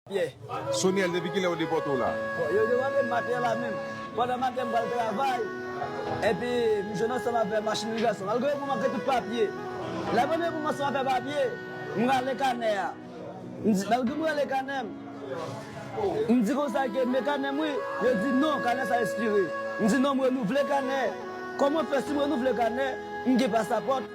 Pyè. Soniel depi kilè yo depòte w la? Bon yo depòte m maten la menm. Pandan maten m pral travay. Epi m jwenn ansanm avè machin migrasyon. Malgre yo pou m ak tout papye. Lè mwen rive pou m ansanm avè papye. M rale kanè a. M di malgre m rale kanè m. M di konsa ke men kanè m wi. Yo di non kanè sa espire. M di non m renouvle kanè. Kòman fè si m renouvle kanè m gen pasapòt.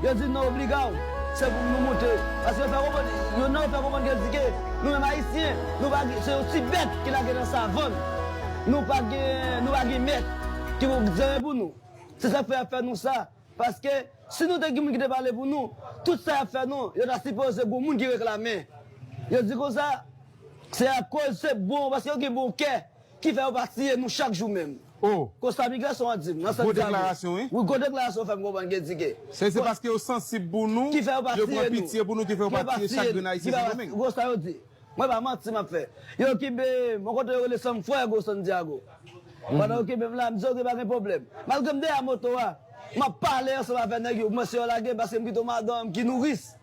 Yo di nou obliga w, se pou nou moute. Paske yo fè konprann, yo nan yo fè konprann yo di ke nou menm Ayisyen, nou pa gen, se yon ti bèt ki lage nan savann. Nou pa gen, nou pa gen mèt ki pou zere pou nou. Se sa k fè y ap fè nou sa. Paske si nou te gen moun ki te pale pou nou, tout sa y ap fè nou, yo ta sipoze gon moun ki reklame. Yo di konsa, se akoz se bon, paske yo gen bon kè. Ki fè yo pa tiye nou chak jou menm? Oh. Konsa migrasyon an di m. Nan sans Gwo dyago. deklarasyon wi. Wi gwo deklarasyon ou fè m konprann gen tige. Se se paske yo sansib pou nou, Ki fè yo pa yo pran tiye nou. pitye pou nou ki fè yo Ki pa fè pa tiye chak tiye grenn nou. Ki Ayisyen fè pa pa Sendomeng. Konsa yo di. Mwen pa manti m ap fè. Yo kenbe m yon kote yo rele San Fuego, Santiago. Pandan yo kenbe m la, m di ok pa gen pwoblèm. Malgre m dèyè moto a, m ap pale ansanm avè nèg yo pou mwen si yo lage m paske m pito madan m ki nouris.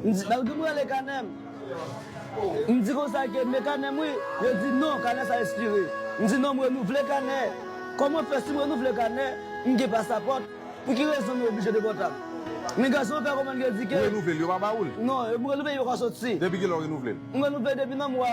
Malgre m rele kanè m, m di konsa ke men kanè m wi, yo di non, kanè sa espire. M di non m renouvle kanè, kòman fè si m renouvle kanè, m gen pasapòt, pou ki rezon nou oblije de pòtab? Migrasyon fè konprann yo di ke. Ou renouvle l, yo pa ba ou l? Non, m renouvle l, yo ka soti. Depi kilè ou renouvle l? M renouvle l depi nan mwa.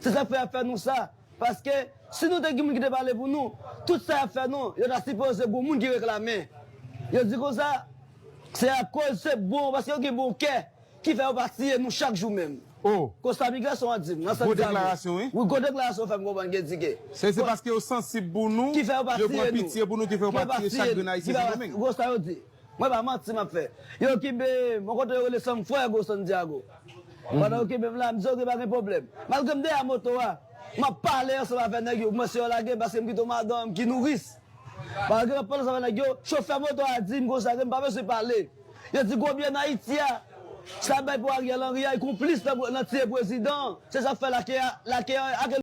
Se sak fè yap fè nou sa paske si nou te gen moun ki te pale pou nou tout sa yap fè nou yo ta sipoze gon moun ki reklame yo di konsa se akoz se bon paske yo gen bon kè ki fè yo pa tiye nou chak jou menm oh konsa migrasyon an dim nan gwo deklarasyon wi gwo deklarasyon ou fèm konprann gen di ke se se paske yo sansib pou nou yo pran pitye pou nou ki fè yo pa tiye chak grenn ayisyen sandomeng. Mwen pa manti map fè. Yo kinbe m yon kote yo rele San Fuego, Santiago. Pandan yo kinbe m la, m di ok pa gen pwoblèm. Malgre m dèyè moto a, map pale ansanm avè nèg yo pou mwen si yo lage m paske m kite yon madanm ki nouris. Malgre map pale ansanm avè nèg yo, chofè moto a di m konsa ke m pa bezwen pale. Yo di gwo byè nan Ayiti a, sa bay pou Ariel Henry a, li konplis nan tiye prezidan an. Se sak fè lake a, lake a ak.